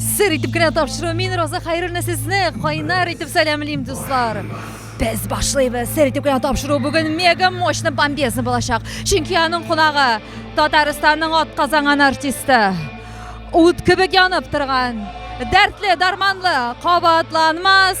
Сер итеп кенә тапшыру. Мин Роза Хәйруллина сезне кайнар итеп сәламлим, дуслар. Без башлыйбыз. Сер итеп кенә тапшыру бүген мега мощный бомбезный булачак. Чөнки аның кунагы Татарстанның атказанган артисты. Ут кебек янып торган, дәртле, дарманлы, кабатланмас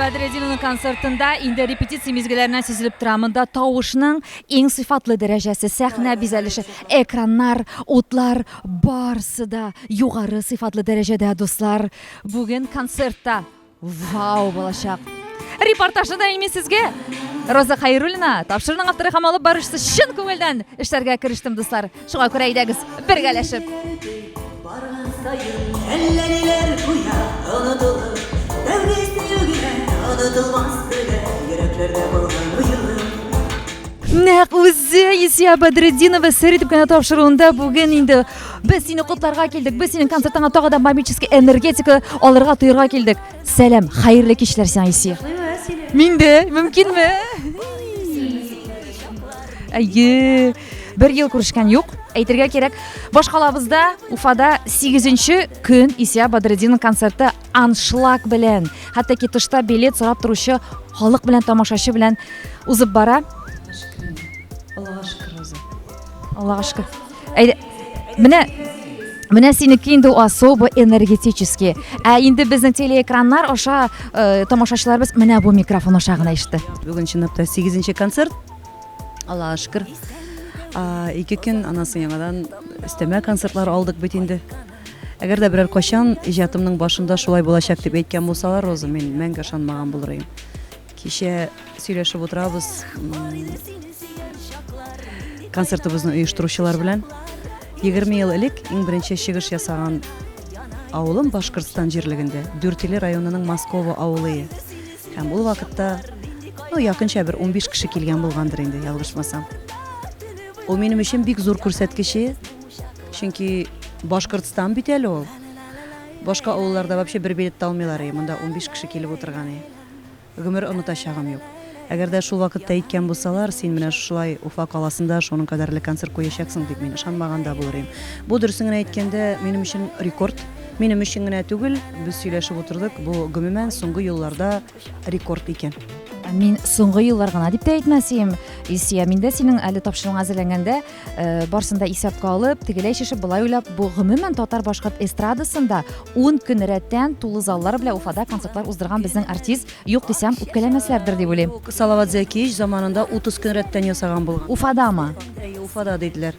Бәдрединның концертында инде репетиция мизгелләренә сизелеп тора. Монда тавышның иң сыйфатлы дәрәҗәсе, сәхнә бизәлеше, экраннар, утлар, Барсы да югары сыйфатлы дәрәҗәдә, дуслар. Бүген концертта вау булачак. Репортажны да ими сезгә. Роза Хайрулина, тапшырның авторы һәм алып баручысы чын күңелдән эшләргә керештем, дуслар. Шуңа күрә әйдәгез, бергәләшеп. Барган саен әллә ниләр куя, онытылып, дәүләт югына онытылмас белән йөрәкләрдә булган уелым. Нәк үзе Исия Бадретдинова сәри төпкәнә тапшыруында бүген инде без сине котларга килдек. Без синең концертыңа тагы да магический энергетика алырга тоерга килдек. Сәлам, хәерле кичләр сиңа Исия. Мин дә, мөмкинме? Әйе. Бер ел күрешкән юк. Әйтергә кирәк, башкалабызда Уфада 8 көн Исия Бадретдинның концерты аншлаг белән хәтта ки тышта билет сорап торучы халык белән тамашачы белән узып бара аллага шөкер үзе аллага шөкер әйдә менә менә синеке инде особо энергетический ә инде безнең телеэкраннар аша э, тамашачыларыбыз менә бу микрофон аша гына ишетте бүген чынлап та сигезенче концерт аллага шөкер ике көн аннан соң яңадан өстәмә концертлар алдык бит инде Әгәр дә берәр качан иҗатымның башында шулай булачак дип әйткән булсалар, Роза, мин мәңге ышанмаган булыр идем. Кичә сөйләшеп утырабыз концертыбызны оештыручылар белән. 20 ел элек иң беренче чыгыш ясаган авылым Башкортстан җирлегендә, Дүртиле районының Москова авылы. Һәм ул вакытта ну, якынча бер 15 кеше килгән булгандыр инде, ялгышмасам. Ул минем өчен бик зур күрсәткече, Чөнки Башкортстан бит әле ул. Башка авылларда вообще бер билет та алмыйлар, и монда 15 кеше килеп утырган, и. Гомер онытачагым юк. Әгәр дә шул вакытта әйткән булсалар, син менә шулай Уфа каласында шуның кадәрле концерт куячаксың дип, мин ышанмаган да булыр идем. Бу дөресен генә әйткәндә, минем өчен рекорд. Минем өчен генә түгел, без сөйләшеп утырдык, бу гомумән соңгы елларда рекорд икән. Мин соңгы еллар гына дип тә әйтмәс идем. Исия, мин дә синең әле тапшыруыңа әзерләнгәндә, э, барсын да исәпкә алып, тегеләй шешеп, былай уйлап, бу гомумән татар-башкорт эстрадасында 10 көн рәттән тулы заллар белән Уфада концертлар уздырган безнең артист юк дисәм, үпкәләмәсләрдер дип уйлыйм. Салават Зәкиевич заманында 30 көн рәттән ясаган булган. Уфадамы? Әйе, Уфада диделәр.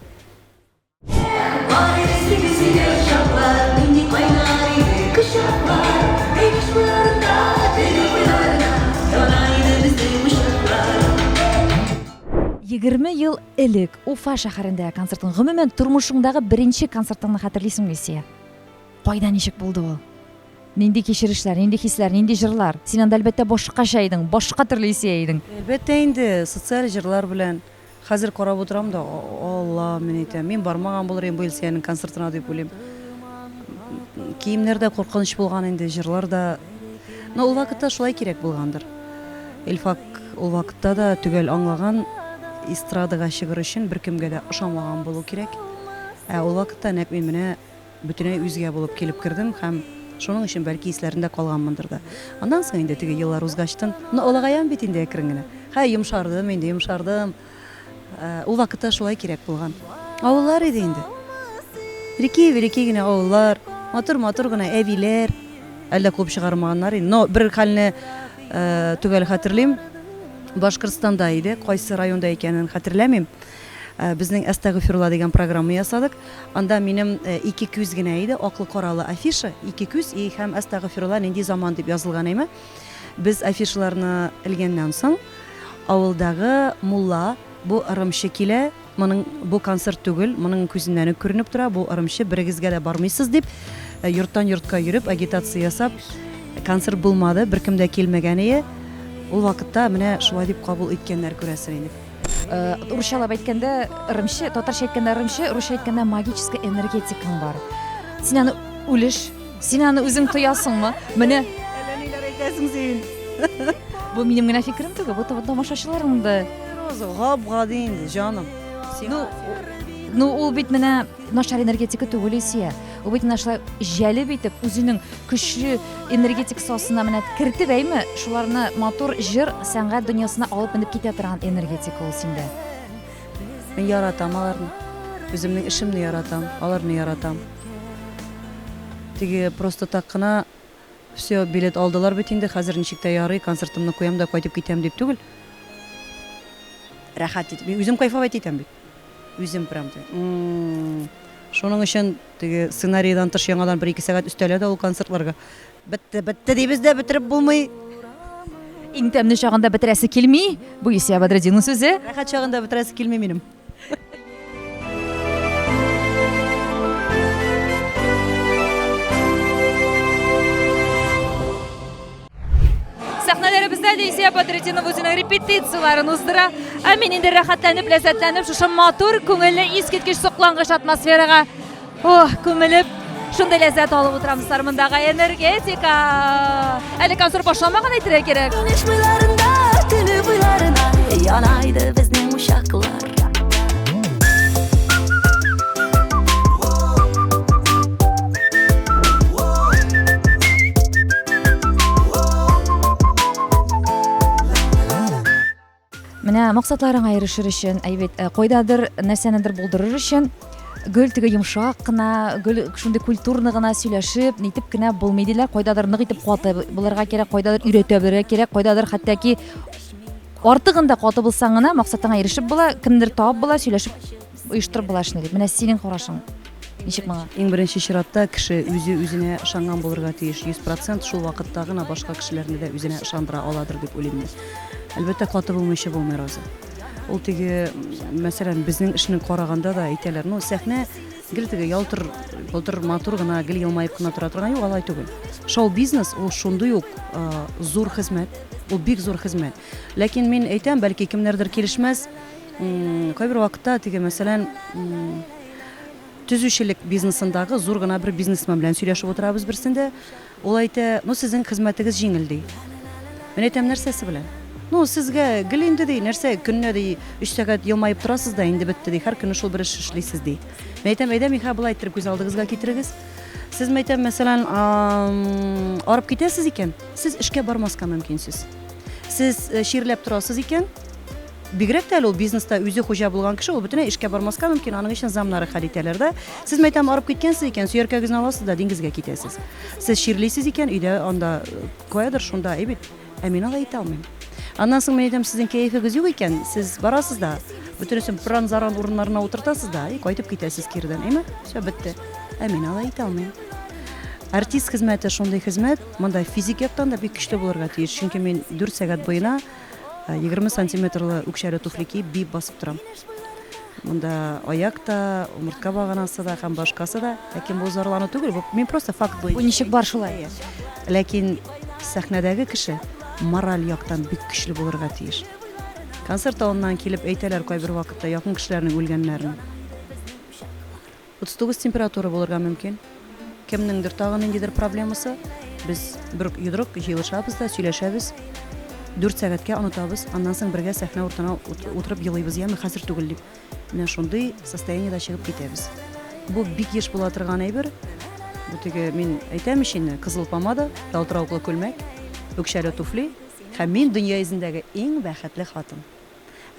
Егерме ел элек Уфа шәһәрендәге концертың, гомумән, тормышыңдагы беренче концертыңны хәтерлисеңме, Илсия? Кайда, ничек булды ул? Нинди кичерешләр, нинди хисләр, нинди җырлар? Син анда, әлбәттә, башкача идең, башка төрле Илсия идең. Әлбәттә инде, социаль җырлар белән. Хәзер карап утырам да, Алла, мин әйтәм, мин бармаган булыр идем бу Илсөянең концертына дип уйлыйм. Киемнәр дә куркыныч булган инде, җырлар да. Но ул вакытта шулай кирәк булгандыр. Илфак ул вакытта да төгәл аңлаган эстрадага чыгыр өчен беркемгә дә ошамаган булу кирәк. Ә ул вакытта нәкъ мин менә Бөтенләй үзгә булып килеп кердем һәм шуның өчен, бәлки, исләрендә калганмындыр да. Аннан соң инде теге еллар узгачтын, ну, олыгаям бит инде әкрен генә. Һай, йомшардым инде, йомшардым. Ул вакытта шулай кирәк булган. Авыллар иде инде. Рики-верики генә авыллар, матур-матур гына әбиләр. Әле дә куып чыгармаганнар инде. Но бер хәлне төгәл хәтерлим, Башкортстанда иде, кайсы районда икәнен хәтерләмим. Безнең Әстәгыйфирулла дигән программа ясадык. Анда минем ике күз генә иде, аклы-каралы афиша, ике күз и һәм Әстәгыйфирулла нинди заман дип язылган име. Без афишаларны элгәннән соң, авылдагы мулла, бу ырымчы килә, моның, бу концерт түгел, моның күзеннән үк күренеп тора, бу ырымчы, берегезгә дә бармыйсыз дип, йорттан йортка йөреп, агитация ясап, концерт булмады, беркем дә килмәгән ие. Ул вакытта менә шулай дип кабул иткәннәр, күрәсең инде. Русчалап әйткәндә ырымчы, татарча әйткәндә ырымчы, русча әйткәндә магический энергетикаң бар. Син аны үлеш, син аны үзең тоясыңмы? Менә әллә ниләр әйтәсең син. Бу минем генә фикерем түгел, бу тамашачыларның да. Роза, гап-гади инде, җаным. Ну, ну ул бит менә Начар энергетика түгел Илсөя. Ул бит менә шулай җәлеп итеп үзенең көчле энергетик сасына менә кертеп әйме, шуларны матур җыр, сәнгать дөньясына алып менеп китә торган энергетика ул синдә. Мин яратам аларны. Үземнең эшемне яратам, аларны яратам. Теге просто так кына все билет алдылар бит инде, хәзер ничек тә ярый, концертымны куям да кайтып китәм дип түгел. Рәхәт итеп. Мин үзем кайфовать итәм бит. Үзем прям ди. Шуның өчен теге сценарийдан тыш яңадан бер-ике сәгать өстәлә дә ул концертларга. Бетте, бетте дибез дә, бетереп булмый. Иң тәмле чагында бетерәсе килми. Бу Исия Бадретдинның сүзе. Рәхәт чагында бетерәсе килми минем. Сәхнәләребездә Дәйсия Бадритдинова үзенең репетицияләрен уздыра. Ә мин инде рәхәтләнеп, ләззәтләнеп шушы матур, күңелле, искиткеч соклангыч атмосферага ох, күмелеп, шундый ләззәт алып утырам дуслар мондагы энергетика. Әле концерт башламаган әйтергә кирәк. Яна иде безнең учаклар. Менә максатларыңа ирешер өчен, әйбәт, э, кайдадыр нәрсәнедер булдырыр өчен гөл теге йомшак кына, гөл шундый культурно гына сөйләшеп, нитеп кенә булмый диләр. Кайдадыр нык итеп куаты булырга кирәк, кайдадыр өйрәтә белергә кирәк, кайдадыр хәтта ки Артыгын да каты булсаң гына максатыңа ирешеп була, кемдер табып була, сөйләшеп оештырып була эшне дип. Менә синең карашың. Ничек моңа? Иң беренче чиратта кеше үзе үзенә ышанган булырга тиеш. 100% шул вакытта гына башка кешеләрне дә үзенә ышандыра аладыр дип уйлыйм мин. Әлбәттә, каты булмыйча булмый разы. Ул теге, мәсәлән, безнең эшне караганда да әйтәләр, ну, сәхнә Гел теге ялтыр-болтыр матур гына, гел елмаеп кына тора торган, юк, алай түгел. Шоу-бизнес ул шундый ук зур хезмәт, ул бик зур хезмәт. Ләкин мин әйтәм, бәлки кемнәрдер килешмәс, кайбер вакытта теге, мәсәлән, төзүчелек бизнесындагы зур гына бер бизнесмен белән сөйләшеп утырабыз берсендә, Ул әйтә, Ну, сезнең хезмәтегез җиңел, ди. Мин әйтәм, Нәрсәсе белән? Ну, сезгә гел инде, ди, нәрсә, көненә, ди, өч сәгать елмаеп торасыз да, инде бетте, ди, һәр көнне шул бер эш эшлисез, ди. Мин әйтәм, Әйдә, Михаил, болай иттереп күз алдыгызга китерегез. Сез, мин әйтәм, мәсәлән, арып китәсез икән, сез эшкә бармаска мөмкинсез. Сез чирләп торасыз икән, Бигрәк тә әле ул бизнеста үзе хуҗа булган кеше, ул бөтенләй эшкә бармаска мөмкин, аның өчен замнары хәл итәләр дә. Сез, мәйтәм, арып киткәнсез икән, сөяркәгезне аласыз да диңгезгә китәсез. Сез чирлисез икән, өйдә анда э, каядыр шунда, әй бит. Ә мин алай итә алмыйм. Аннан соң мин әйтәм, сезнең кәефегез юк икән, сез барасыз да, бөтенесен пыран-заран урыннарына утыртасыз да, и кайтып китәсез кирдән, әйме? Все, бетте. Ә мин алай итә алмыйм. Артист хезмәте шундый хезмәт, монда физик яктан да бик көчле булырга тиеш, чөнки мин 4 сәгать буена 20 сантиметрлы үкчәле туфли киеп биеп басып торам. Монда аяк та, умыртка баганасы да һәм башкасы да. Ләкин бу зарлану түгел, бу мин просто факт буенча. Бу ничек бар шулай? Ләкин сәхнәдәге кеше мораль яктан бик көчле булырга тиеш. Концерт алыннан килеп әйтәләр кайбер вакытта якын кешеләрнең үлгәннәрен. 39 температура булырга мөмкин. Кемнеңдер тагы ниндидер проблемасы. Без бер йодрык җыелышабыз да сөйләшәбез. 4 сәгатькә онытабыз, аннан соң бергә сәхнә уртына утырып елыйбыз, яме хәзер түгел дип. Менә шундый состояниедә чыгып китәбез. Бу бик еш була торган әйбер. Бу теге мин әйтәм иченне, кызыл помада, ялтыравыклы күлмәк, үкчәле туфли һәм мин дөнья йөзендәге иң бәхетле хатын.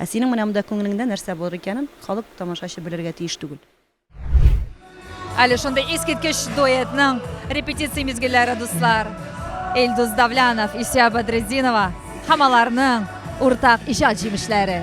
Ә синең менә монда күңелеңдә нәрсә булыр икәнен халык, тамашачы белергә тиеш түгел. Әле шундый искиткеч дуэтның репетиция мизгелләре, дуслар. Илдус Давлянов, Исия Бадретдинова һәм аларның уртак иҗат җимешләре.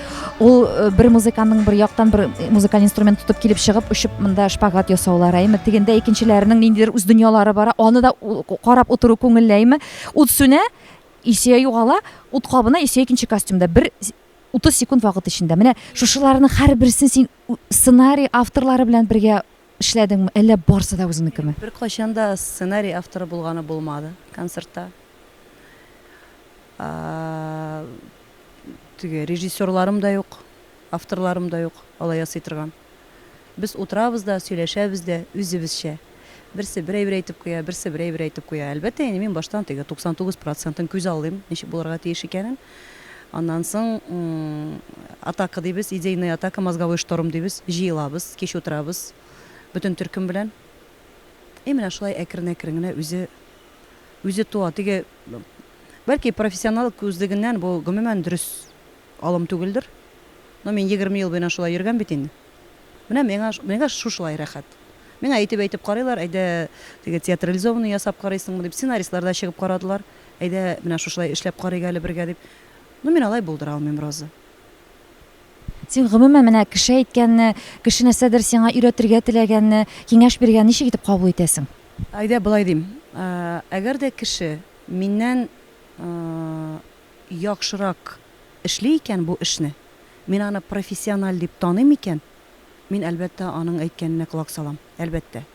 Ул э, бер музыканың бер яктан бер э, музыкаль инструмент тотып килеп чыгып, очып монда шпагат ясаулар әйме, тегендә икенчеләренең ниндидер үз дөньялары бара, аны да карап утыру күңелләйме. Ут сүнә, исә югала, ут кабына, исә икенче костюмда. Бер 30 секунд вакыт эчендә. Менә шушыларның һәрберсен син сценарий авторлары белән бергә Эшләдеңме, әллә барсы да үзеңнекеме? Беркайчан да сценарий авторы булганы булмады концертта. Теге режиссерларым да юк, авторларым да юк, алай ясый торган. Без утырабыз да, сөйләшәбез дә үзебезчә. Берсе бер әйбер әйтеп куя, берсе бер әйбер әйтеп куя. Әлбәттә, инде мин баштан теге 99 процентын күз алдыйм, ничек булырга тиеш икәнен. Аннан соң атака дибез, идейная атака, мозговой шторм дибез. Җыелабыз, кич утырабыз бөтен төркем белән. И менә шулай әкрен-әкрен генә үзе үзе туа. Теге бәлки профессионал күзлегеннән бу гомумән дөрес алым түгелдер. Но мин 20 ел буена шулай йөргән бит инде. Менә миңа миңа шушылай рәхәт. Миңа әйтеп-әйтеп карыйлар, әйдә, теге театрализованный ясап карыйсыңмы дип, сценаристлар да чыгып карадылар. Әйдә, менә шушылай эшләп карыйк әле бергә, дип. Ну, мин алай булдыра алмыйм, Роза. Син, гомумән, менә кеше әйткәнне, кеше нәрсәдер сиңа өйрәтергә теләгәнне, киңәш биргәнне ничек итеп кабул итәсең? Әйдә, болай дим. Әгәр дә кеше миннән яхшырак эшли икән бу эшне, мин аны профессиональ дип таныйм икән, мин, әлбәттә, аның әйткәненә колак салам, әлбәттә.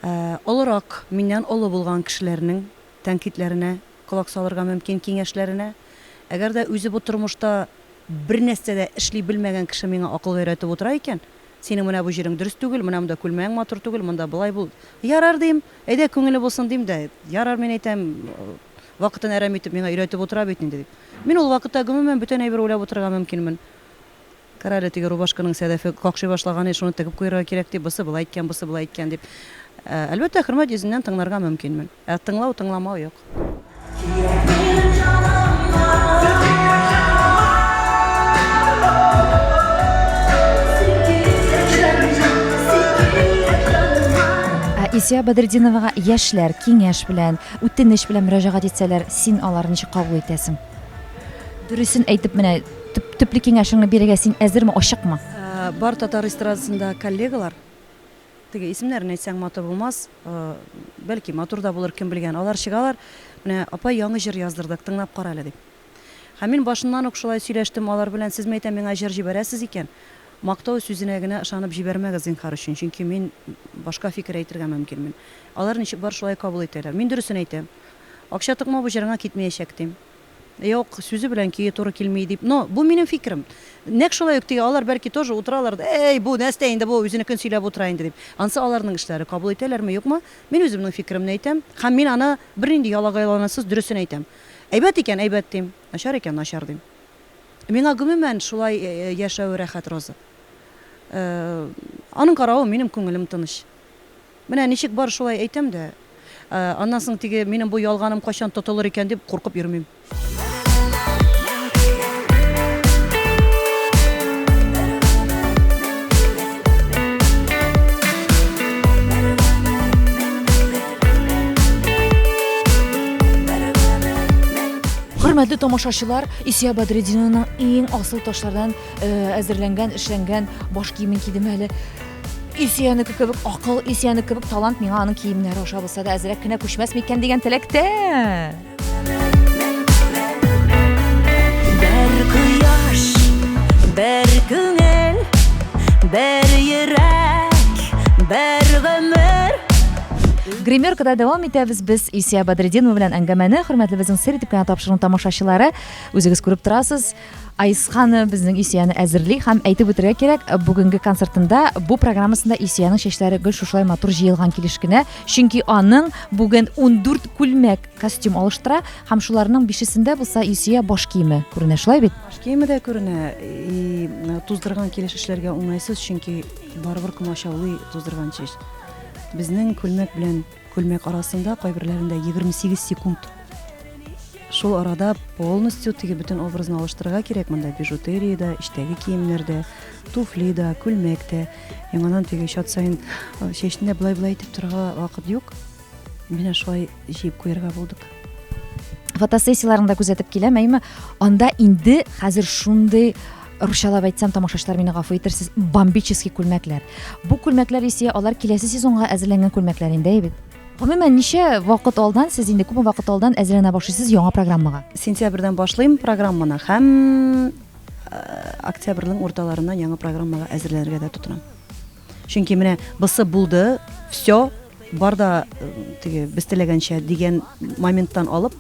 олырак, миннән олы булган кешеләрнең тәнкыйтьләренә колак салырга мөмкин, киңәшләренә. Әгәр дә үзе бу тормышта бернәрсә дә эшли белмәгән кеше миңа акыл өйрәтеп утыра икән, синең менә бу җирең дөрес түгел, менә монда күлмәгең матур түгел, монда болай бул. Ярар, дим, әйдә, күңеле булсын, дим дә, ярар, мин әйтәм, вакытын әрәм итеп миңа өйрәтеп утыра бит инде, дип. Мин ул вакытта, гомумән, бүтән әйбер уйлап утырырга мөмкинмен. Карале, теге рубашканың сәләфе какшый башлаган иде, шуны тегеп куярга кирәк, ди, бусы болай әйткән, бусы болай әйткән, дип. Әлбәттә, хөрмәт йөзеннән тыңларга мөмкинмен. Ә тыңлау, тыңламау юк. Исия Бәдретдиновага яшьләр киңәш белән, үтенеч белән мөрәҗәгать итсәләр, син аларны ничек кабул итәсең? Дөресен әйтеп менә төп, төпле киңәшеңне бирергә син әзерме, ачыкмы? Ә, бар татар эстрадасында коллегалар, теге исемнәрен әйтсәң матур булмас, ә, бәлки матур да булыр, кем белгән, алар чыгалар, менә апа яңы җыр яздырдык, тыңлап кара әле дип. Һәм мин башыннан ук шулай сөйләштем алар белән, сез мәйтәм миңа җыр җибәрәсез икән, мактау сүзенә генә ышанып җибәрмәгез зинхар өчен, чөнки мин башка фикер әйтергә мөмкинмен. Алар ничек бар шулай кабул итәләр. Мин дөресен әйтәм, Акча тыкма бу җырыңа китмәячәк дим. Юк, сүзе белән көе туры килми дип, но бу минем фикерем. Нәкъ шулай ук теге алар бәлки тоже утыралар да, әй, бу нәстә инде бу, үзенекен сөйләп утыра инде дип. Ансы аларның эшләре, кабул итәләрме, юкмы, мин үземнең фикеремне әйтәм һәм мин аны бернинди ялагайланасыз дөресен әйтәм. Әйбәт икән, әйбәт дим, начар икән, начар дим. Миңа гомумән шулай яшәве рәхәт Роза. Аның каравы минем күңелем тыныч. Менә ничек бар шулай әйтәм дә, аннан соң теге минем бу ялганым кайчан тотылыр икән дип куркып йөрмим. Хөрмәтле тамашачылар, Исия Бадретдинованың иң асыл ташлардан әзерләнгән, эшләнгән баш киемен кидем әле. Исәнеке кебек акыл, исәнеке кебек талант миңа аның киемнәре аша булса да әзрәк кенә күчмәс микән дигән теләктә. Бер кояш, бер күңел, бер йөрәк, бер гомер. Гримеркада дәвам итәбез без Исия Бадретдинова белән әңгәмәне. Хөрмәтле безнең сер итеп кенә тапшыруның тамашачылары, үзегез күреп торасыз, Айсханы безнең Исияне әзерли һәм әйтеп үтәргә кирәк, бүгенге концертында бу программасында Исиянең чәчләре гел шушылай матур җыелган килеш кенә, чөнки аның бүген 14 күлмәк костюм алыштыра һәм шуларның бишесендә булса Исия баш киеме күренә, шулай бит? Баш киеме дә күренә, и туздырган килеш эшләргә уңайсыз, чөнки барыбер комачаулый туздырган чәч. Безнең күлмәк белән Күлмәк арасында кайберләрендә 28 секунд. Шул арада полностью теге бөтен образны алыштырырга кирәк монда бижутерия да, эчтәге киемнәр дә, туфли да, күлмәк тә. Яңадан теге чат саен э, чәчне былай-былай итеп торырга вакыт юк. Менә шулай җыеп куярга булдык. Фотосессияләрендә күзәтеп киләм, әйме, анда инде хәзер шундый русчалап әйтсәм, тамашачылар мине гафу итерсез, бомбический күлмәкләр. Бу күлмәкләр исә алар киләсе сезонга әзерләнгән күлмәкләр инде бит. Гомумән, ничә вакыт алдан сез инде күпме вакыт алдан әзерләнә башлыйсыз яңа программага? Сентябрьдән башлыйм программаны һәм э, октябрьнең урталарыннан яңа программага әзерләнергә дә тотынам. Чөнки менә бысы булды, все, бар да э, теге без теләгәнчә дигән моменттан алып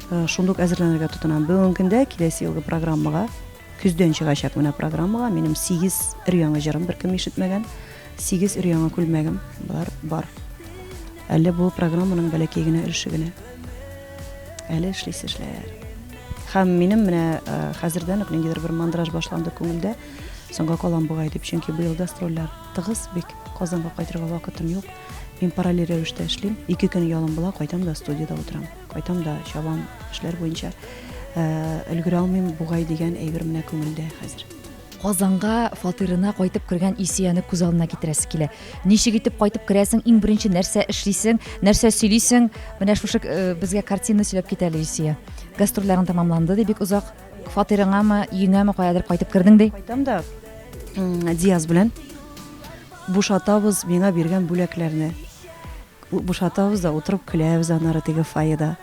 э, шундук әзерләнергә тотынам. Бүгенге көндә киләсе елгы программага көздән чыгачак менә программага минем 8 өр-яңа җырым беркем ишетмәгән, 8 өр-яңа күлмәгем бар, бар. Әле бу программаның бәләкәй генә өлеше генә. Әле эшлисе эшләр. Һәм минем менә э, хәзердән үк ниндидер бер мандраж башланды күңелдә. Соңга калам бугай дип, чөнки быел гастрольләр тыгыз бик. Казанга кайтырга вакытым юк. Мин параллель рәвештә эшлим. Ике көн ялым була, кайтам да студиядә утырам. Кайтам да чабам эшләр буенча. Өлгерә алмыйм бугай дигән әйбер менә күңелдә хәзер. Казанга фатирына кайтып кергән Исияне күз алдына китерәсе килә. Ничек итеп кайтып керәсең, иң беренче нәрсә эшлисең, нәрсә сөйлисең? Менә шушы безгә картина сөйләп кит әле, Исия. Гастрольләрең тәмамланды, ди, бик озак. Фатирыңамы, өеңәме, каядыр кайтып кердең ди? Кайтам да. Диаз белән бушатабыз миңа биргән бүләкләрне. Бушатабыз да утырып көләбез анары теге фойеда.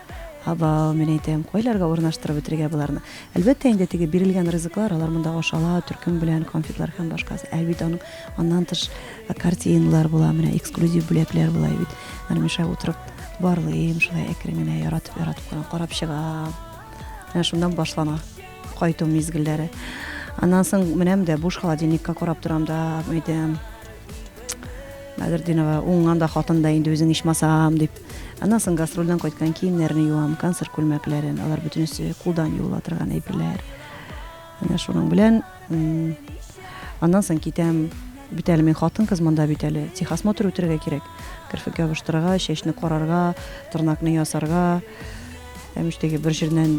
Абау, мин әйтәм, кайларга урнаштырып бетерергә боларны. Әлбәттә, инде теге бирелгән ризыклар, алар монда ашала, төркем белән конфетлар һәм башкасы. Әлбәттә, аның аннан тыш э, картиналар була, менә эксклюзив бүләкләр була бит. Аны миша утырып барлыйм, шулай әкрен генә яратып, яратып карап чыга. менә шуннан башлана кайту мизгелләре аннан соң менәм дә буш холодильникка карап торам да әйтәм Бәдердинова уңган да хатын да инде үзең ичмасам дип аннан соң гастрольдән кайткан киемнәрне юам концерт күлмәкләрен алар бөтенесе кулдан юыла торган әйберләр Менә шуның белән аннан соң китәм. Бит әле мин хатын-кыз монда бит әле. Техосмотр үтәргә кирәк. Керфек ябыштырырга, чәчне карарга, тырнакны ясарга. Әмештәге бер җирдән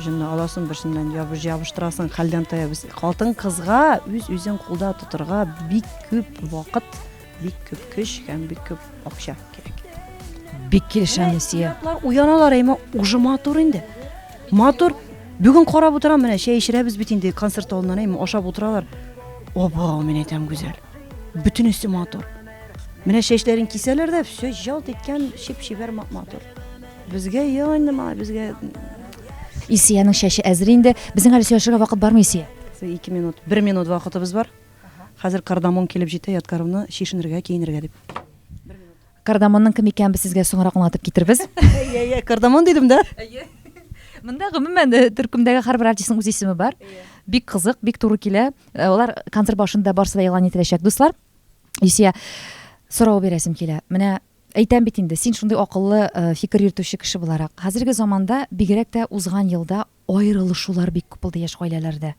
җынны аласың, берсеннән ябыштырасың. Хәлдән тая без. Хатын-кызга үз-үзен кулда тотарга бик күп вакыт Бик күп көч һәм бик күп акча кирәк. Бик килешәм, Несия. Уяналар, әйме, уже матур инде. Матур. Бүген карап утырам, менә чәй эчерәбез бит инде концерт алдыннан, әйме, ашап утыралар. Оба, мин әйтәм, гүзәл. Бөтенесе матур. Менә чәчләрен кисәләр дә, все жалт иткән, чип-чибәр матур. Безгә яңа, мала, безгә Исиянең чәче әзер инде. Безнең әле сөйләшергә вакыт бармы, Исия? Ике минут, бер минут вакытыбыз бар. Хәзер кардамон килеп җитә, Ядкаровны чишенергә, киенергә дип. Бер минут. Кардамонның кем икәнен без сезгә соңрак аңлатып китербез. Әйе, әйе, кардамон дидем дә. Әйе. Монда гомумән э, төркемдәге һәрбер артистның үз исеме бар. Бик кызык, бик туры килә. Э, алар концерт башында барсы да игълан ителәчәк, дуслар. Исия, сорау бирәсем килә. Менә әйтәм бит инде, син шундый акыллы э, фикер йөртүче кеше буларак. Хәзерге заманда бигрәк тә узган елда Аерылышулар бик күп булды яшь гаиләләрдә.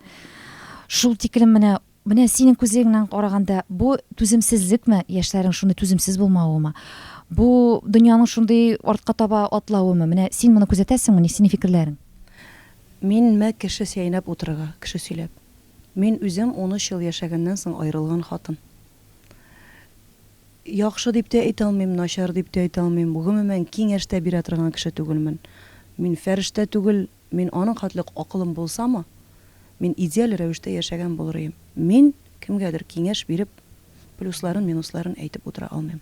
Шул тиклем менә, менә синең күзлегеңнән караганда, бу түземсезлекме, яшьләрнең шундый түземсез булмавымы? Бу дөньяның шундый артка таба атлавымы? Менә син моны күзәтәсеңме, ни синең фикерләрең? Мин мә кеше сәйнәп утырырга, кеше сөйләп. Мин үзем унөч ел яшәгәннән соң аерылган хатын. Яхшы дип тә әйтә алмыйм, начар дип тә әйтә алмыйм, гомумән, киңәш тә бирә торган кеше түгелмен. Мин фәрештә түгел, мин аның хәтле үк акылым булсамы, мин идеаль рәвештә яшәгән булыр ием. Мин кемгәдер киңәш биреп, плюсларын-минусларын әйтеп утыра алмыйм.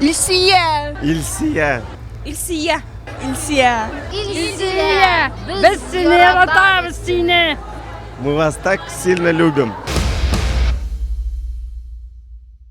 Илсия. Илсия. Илсия. Илсия. Илсия. Без сине яратабыз сине. Мы вас так сильно любим.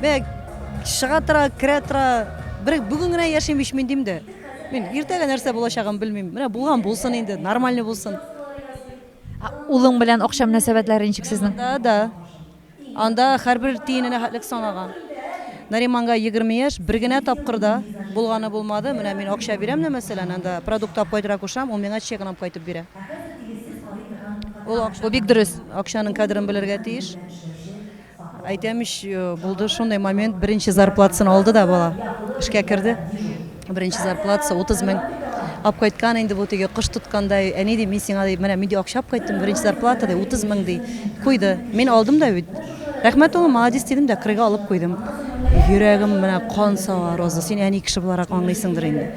Бе чыга тора, керә тора. Бер бүген генә яшим ич мин дим дә. Мин иртәгә нәрсә булачагын белмим. Менә булган булсын инде, нормальный булсын. Улың белән акча мөнәсәбәтләре ничек сезнең? Да, да. Анда һәрбер тиененә хәтлек санаган. Нариманга 20 яшь, бер генә тапкыр да булганы булмады. Менә мин акча бирәм дә, мәсәлән, анда продукт алып кайтырга кушам, ул миңа чегын алып кайтып бирә. Ул акча, бу бик дөрес. Акчаның кадерен белергә тиеш. Әйтәм ич, э, булды шундый момент, беренче зарплатасын алды да бала. Эшкә керде. Беренче зарплатасы 30 мең. Ап кайткан инде бу теге кош тоткандай. Әни ди, мин сиңа ди, менә мин ди акча ап кайттым, беренче зарплата ди 30 мең ди. Куйды. Мин алдым да бит. Рәхмәт улым, молодец дидем дә, крыга алып куйдым. Йөрәгем менә кан сава, Роза, син әни кеше буларак аңлыйсыңдыр инде.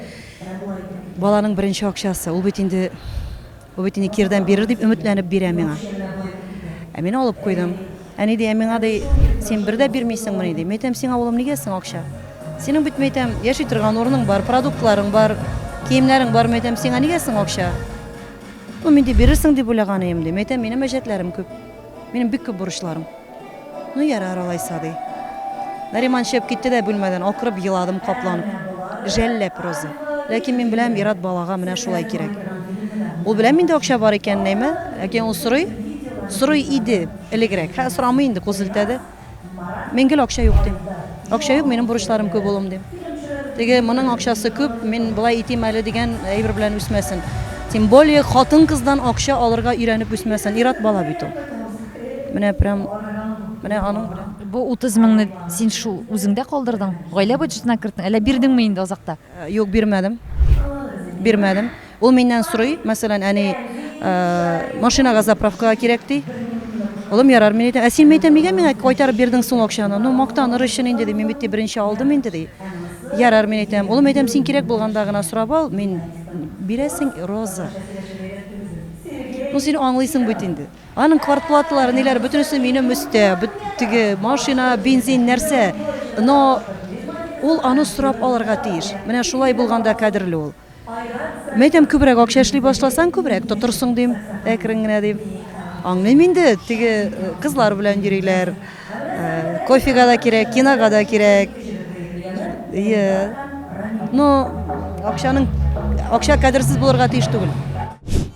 Баланың беренче акчасы, ул бит инде Бу бит инде кирдән бирер дип өметләнеп бирә миңа. Ә мин алып куйдым. Әни ди, ә миңа ди, син бер дә бирмисеңмени ди. Мәйтәм, сиңа улым нигә соң акча? Синең бит мәйтәм, яши торган урының бар, продуктларың бар, киемнәрен бар мәйтәм, сиңа нигә соң акча? Ну, мин ди, бирерсең дип уйлаган идем ди. Мәйтәм, минем әҗәтләрем күп. Минем бик күп бурычларым. Ну, ярар алайса, ди. Нариман чыгып китте дә бүлмәдән, акырып еладым капланып. Жәлләп Роза. Ләкин мин беләм, ир-ат балага менә шулай кирәк. Ул белә миндә акча бар икәнен, әйме? Ләкин ул сорый, сорый иде элегрәк. Хәзер сорамый инде, кул селтәде. Мин гел акча юк, дим. Акча юк, минем бурычларым күп, улым, дим. Теге, моның акчасы күп, мин болай итим әле дигән әйбер белән үсмәсен. Тем более, хатын-кыздан акча алырга өйрәнеп үсмәсен, ир-ат бала бит ул. Менә прям, менә аның белән. Бу 30 меңне син шул үзеңдә калдырдың, гаилә бюджетына керттең, әллә бирдеңме инде азакта? Юк, бирмәдем. Бирмәдем. Ул миннән сорый, мәсәлән, әни, машинага заправкага кирәк ди. Улым, ярар, мин әйтәм, ә син әйтәм, нигә миңа кайтарып бирдең соң акчаны? Ну, мактаныр өчен инде ди, мин бит беренче алдым инде ди. Ярар, мин әйтәм, улым, әйтәм, син кирәк булганда гына сорап ал, мин бирәсең, Роза. Ну, син аңлыйсың бит инде. Аның квартплаталары, ниләр, бөтенесе минем өстә. Теге машина, бензин, нәрсә. Но ул аны сорап алырга тиеш. Менә шулай булганда кадерле ул. Мин әйтәм, күбрәк акча эшли башласаң, күбрәк тотырсың, дим, әкрен генә, дим. Аңлыйм инде, теге э, кызлар белән йөриләр. Э, кофега да кирәк, кинога да кирәк. Иә. Но акчаның акча кадерсез булырга тиеш түгел.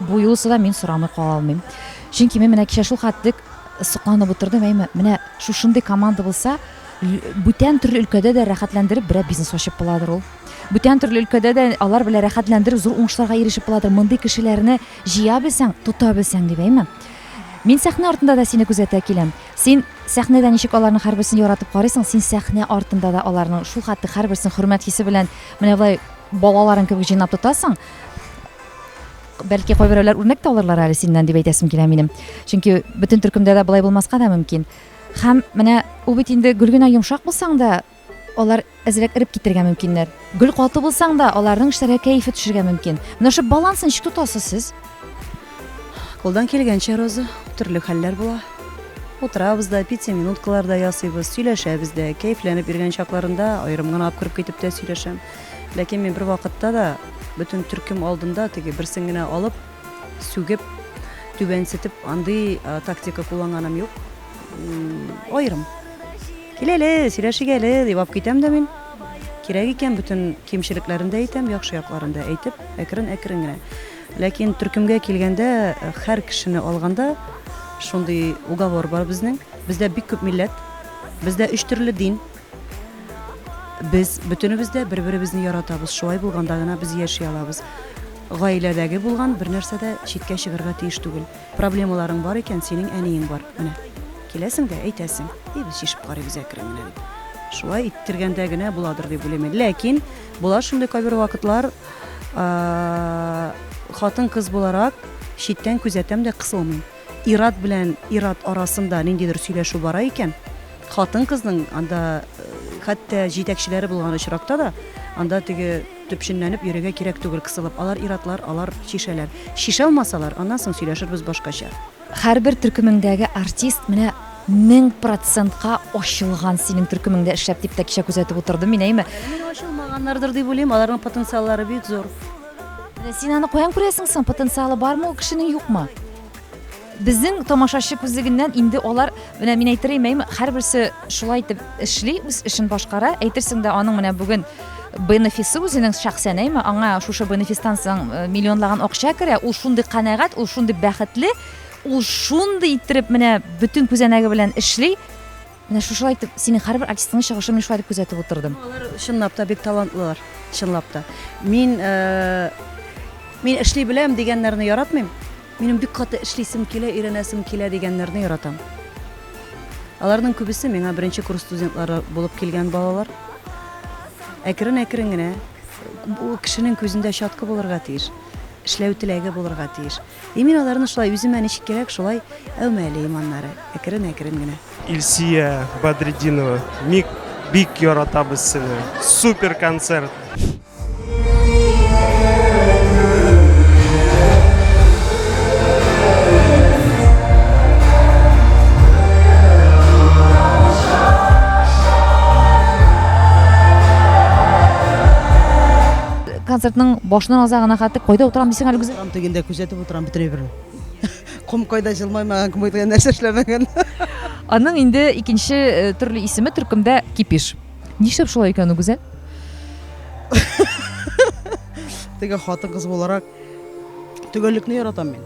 Бу юлысы да мин сорамый кала алмыйм. Чөнки мин менә кичә шул хәтлек сокланып утырдым, әйме, менә шушындый команда булса, бүтән төрле өлкәдә дә рәхәтләндереп берәр бизнес ачып буладыр ул. Бүтән төрле өлкәдә дә алар белән рәхәтләндереп зур уңышларга ирешеп буладыр. Мондый кешеләрне җыя белсәң, тота белсәң дип, әйме. Мин сәхнә артында да сине күзәтә киләм. Син сәхнәдә ничек аларның һәрберсен яратып карыйсың, син сәхнә артында да аларның шул хәтле һәрберсен хөрмәт хисе белән менә болай балаларың кебек җыйнап тотасың. Бәлки кайберәүләр үрнәк тә алырлар әле синнән дип әйтәсем килә минем. Чөнки бөтен төркемдә дә болай булмаска да мөмкин. Һәм менә ул бит инде гөл генә йомшак булсаң да, алар әзрәк эреп китергә мөмкиннәр. Гөл каты булсаң да, аларның эшләргә кәефе төшергә мөмкин. Менә шул баланс ничек тотасыз сез? Кулдан килгәнчә, Роза, төрле хәлләр була. Утырабыз да, пицца минуткалар да ясыйбыз, сөйләшәбез дә. Кәефләнеп йөргән чакларында аерым гына алып кереп китеп тә сөйләшәм. Ләкин мин бервакытта да бөтен төркем алдында теге берсен генә алып, сүгеп, түбәнсетеп андый тактика кулланганым юк. Аерым. Кил әле, сөйләшик әле дип алып китәм дә мин. Кирәк икән бөтен кимчелекләрен дә әйтәм, яхшы якларын да әйтеп, әкрен-әкрен генә. Ләкин төркемгә килгәндә, һәр кешене алганда шундый уговор бар безнең. Бездә бик күп милләт, бездә өч төрле дин, Без бөтенебез дә бер-беребезне яратабыз. Шулай булганда гына без яши алабыз. Гаиләдәге булган бер нәрсә дә читкә чыгарга тиеш түгел. Проблемаларың бар икән, синең әниең бар. Менә. Киләсең дә әйтәсең. И без чишеп карыйбыз әкрен генә дип. Шулай иттергәндә генә буладыр дип уйлыйм. Ләкин була шундый кайбер вакытлар, хатын-кыз буларак читтән күзәтәм дә кысылмыйм. Ир-ат белән ир-ат арасында ниндидер сөйләшү бара икән, хатын-кызның анда хәтта җитәкчеләре булган очракта да анда теге төпченләнеп йөрергә кирәк түгел кысылып. Алар ир-атлар, алар чишәләр. Чишә алмасалар, аннан соң сөйләшербез башкача. Һәрбер төркемеңдәге артист менә мең процентка ачылган синең төркемеңдә эшләп, дип тәкчә күзәтеп утырдым мин, әйме? Әле менә ачылмаганнардыр дип уйлыйм, аларның потенциаллары бик зур. Син аны каян күрәсең соң? Потенциалы бармы ул кешенең юкмы? Безнең тамашачы күзлегеннән инде алар, менә мин әйтер имәйме, һәрберсе шулай итеп эшли, үз эшен башкара. Әйтерсең дә аның менә бүген бенефисы үзенең шәхсән әйме, аңа шушы бенефистан соң э, миллионлаган акча керә, ул шундый канәгать, ул шундый бәхетле, ул шундый иттереп менә бөтен күзәнәге белән эшли. Менә шушылай итеп, синең һәрбер артистыңның чыгышын мин шулай итеп күзәтеп утырдым. Алар чынлап та бик талантлылар, чынлап та. Мин, мин эшли беләм дигәннәрне яратмыйм. Минем бик каты эшлисем килә, өйрәнәсем килә дигәннәрне яратам. Аларның күбесе миңа беренче курс студентлары булып килгән балалар. Әкрен-әкрен генә бу кешенең күзендә чаткы булырга тиеш, эшләү теләге булырга тиеш. И мин аларны шулай үземә ничек кирәк шулай әүмә әле иманнары әкрен әкрен генә. Ильсия Бадрединова, мик бик яратабыз сине. Супер концерт! концертның башыннан азагына хәтле кайда утырам дисең әле гүзәл Тегендә күзәтеп утырам бөтенләй бер. Ком кайда җылмаймаган, ком кайда нәрсә эшләмәгән. Аның инде икенче э, төрле исеме төркемдә кипиш. Нишләп шулай икән ул Гүзәл? Теге хатын кыз буларак төгәллекне яратам мин.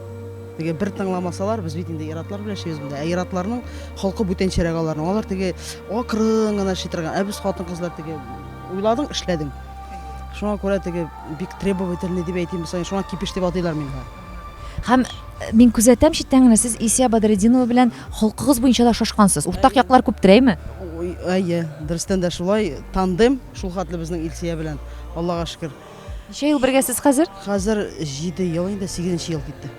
Теге бер тыңламасалар, без бит инде иратлар белән яшибез монда. Ә иратларның холкы бүтәнчәрәк аларның. Алар теге акрын гына шитерган. Ә без хатын кызлар теге уйладың, эшләдең. Шуңа күрә теге Бик требовательный дип әйтим без аны, шуңа кипеш дип атыйлар мине. Һәм мин күзәтәм читтән генә сез Исия Бадретдинова белән холкыгыз буенча да шашкансыз. Уртак яклар күптер, әйме? Әйе, дөрестән дә шулай, тандем шул хәтле безнең Илсия белән. Аллага шөкер. Ничә ел бергәсез хәзер? Хәзер 7 ел инде, 8 ел китте.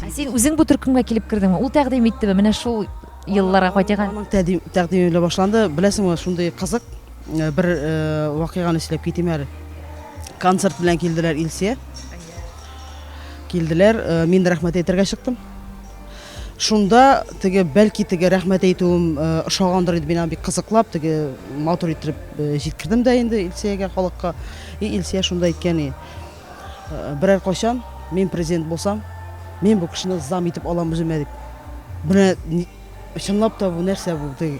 Ә син үзең бу төркемгә килеп кердеңме? Ул тәкъдим иттеме? Менә шул елларга кайтыйк. Аның тәкъдиме белән башланды. Беләсеңме, шундый кызык бер вакыйганы сөйләп китим әле. Концерт белән килделәр Илсия. Килделәр, мин рәхмәт әйтергә чыктым. Шунда теге бәлки теге рәхмәт әйтүем ошагандыр иде, мин бик кызыклап теге матур итеп җиткердем дә инде Илсиягә халыкка. И Илсия шунда әйткән и. Берәр кайчан мин президент булсам, мин бу кешене зам итеп алам үземә дип. Менә чынлап та бу нәрсә бу? Э,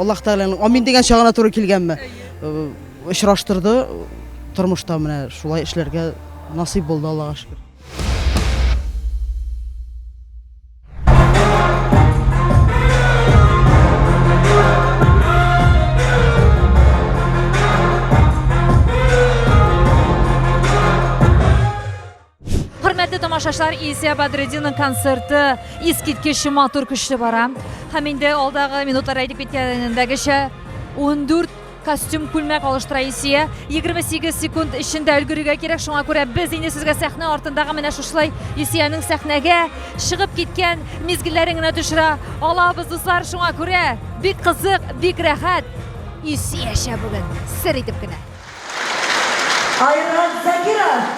Аллаһ Тәгаләнең амин дигән чагына туры килгәнме? Э, очраштырды тормышта менә шулай эшләргә насыйп булды Аллага шөкер. Хөрмәтле тамашачылар, Илсия Бадретдинның концерты искиткеч матур, көчле бара. Һәм инде алдагы минутларда әйтеп киткәнендәгечә, 14 Костюм, күлмәк алыштыра Исия. 28 секунд эчендә өлгерергә кирәк, шуңа күрә без инде сезгә сәхнә артындагы менә шушылай Исиянең сәхнәгә чыгып киткән мизгелләрен генә төшерә алабыз, дуслар. Шуңа күрә бик кызык, бик рәхәт. Исиячә бүген сер итеп кенә. Айрат Закиров!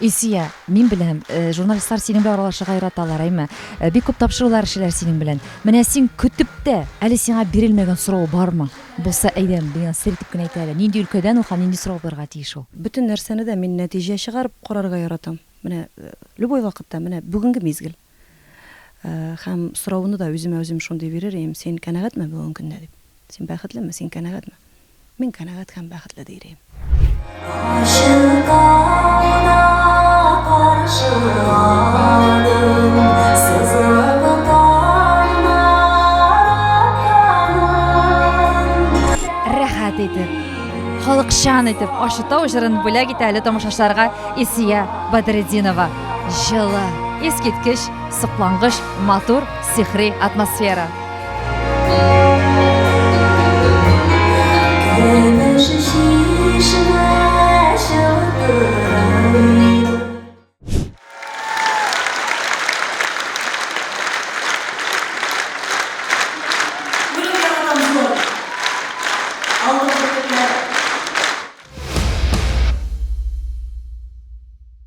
Илсия, мин беләм, э, журналистлар синең белән аралашырга яраталар, әйме? Э, Бик күп тапшырулар эшләр синең белән. Менә син көтеп тә, әле сиңа бирелмәгән сорау бармы? Булса, әйдә, миңа сер итеп кенә әйтә әле. Нинди өлкәдән ул һәм нинди сорау булырга тиеш ул? Бөтен нәрсәне дә мин нәтиҗә чыгарып карарга яратам. Менә э, любой вакытта, менә бүгенге мизгел. Һәм сорауны да үземә үзем шундый бирер ием, син канәгатьме бүгенге көнне дип? Син бәхетлеме, син канәгатьме? Мин канәгать һәм бәхетле дир ием. Рәхәт итеп, халыкчан итеп Ачытау җырын бүләк итә әле тамашачыларга Исия Бадретдинова. Җылы, искиткеч, соклангыч, матур, сихри атмосфера.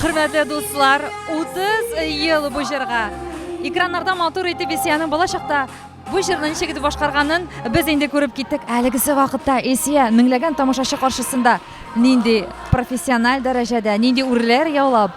Хөрмәтле дуслар, 30 ел бу җырга. Экраннарда матур итеп Исиянең балачакта бу җырны ничек итеп башкарганын без инде күреп киттек. Әлегесе вакытта Исия меңләгән тамашачы каршысында нинди профессиональ дәрәҗәдә, нинди үрләр яулап,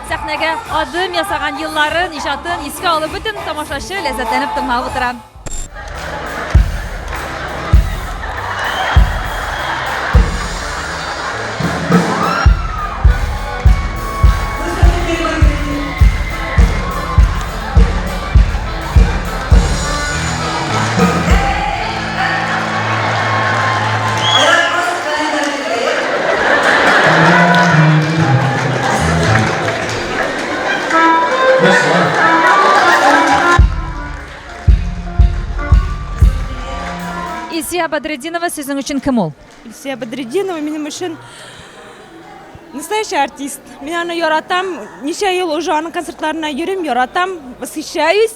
Сәхнәгә адым ясаган елларын, иҗатын искә алып бөтен тамашачы ләззәтләнеп тыңлап утыра. Илсия Бадрединова сезнең өчен кем ул? Илсия Бадрединова минем өчен настоящий артист. Мин аны яратам. Ничә ел уже аның концертларына йөрим, яратам, восхищаюсь.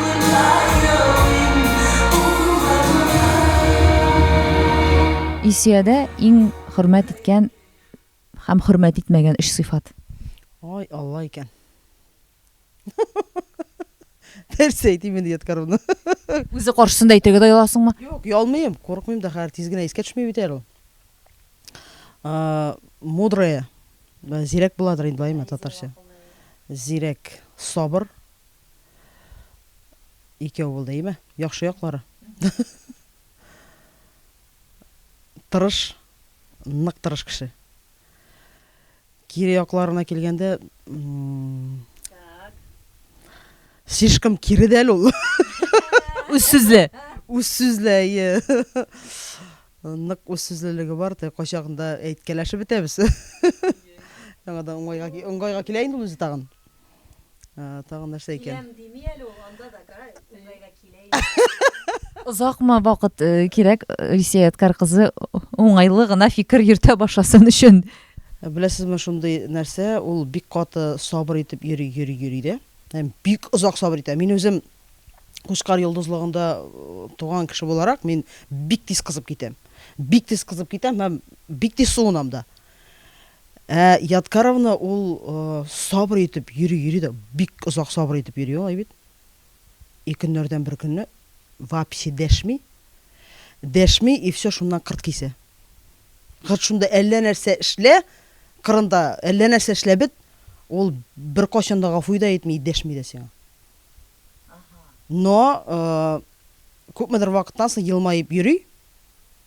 Исиядә иң хөрмәт иткән һәм хөрмәт итмәгән өч сыйфат. Ай, Алла икән. Нәрсә әйтим инде яткаруны. Үзе каршысында әйтергә дә яласыңмы? Юк, ялмыйм, курыкмыйм да, хәер тиз генә искә төшми бит әле ул. Мудрая. Зирәк буладыр инде, баемы татарча? Зирәк, сабыр. Икәү булды, әйме? Яхшы яклары. Тырыш, нык тырыш кеше. Кире якларына килгәндә, слишком кире дә әле ул. Үз сүзле. Үз сүзле, әйе. Нык үз сүзлелеге бар, тә кайчагында әйткәләшеп бетәбез. Яңадан уңайга уңайга килә инде үзе тагын. Тагын нәрсә икән? Киләм дими әле ул, анда да кара, уңайга килә инде. Озакмы вакыт кирәк Рисия Яткар кызы уңайлы гына фикер йөртә башласын өчен? Беләсезме, шундый нәрсә, ул бик каты сабыр итеп йөри, йөри, йөри дә. Һәм бик озак сабыр итә. Мин үзем Кучкар йолдызлыгында туган кеше буларак, мин бик тиз кызып китәм. Бик тиз кызып китәм һәм бик тиз суынам да. Ә Ядкаровна ул сабыр итеп йөри-йөри дә, бик озак сабыр итеп йөри алай бит. И көннәрдән бер көнне вообще дәшми, дәшми и все шуннан кырт кисә. Кырт шунда әллә нәрсә эшлә, кырында әллә нәрсә эшлә бит, ул беркайчан да гафу да итми, дәшми дә сиңа. Но күпмедер вакыттан соң елмаеп йөри.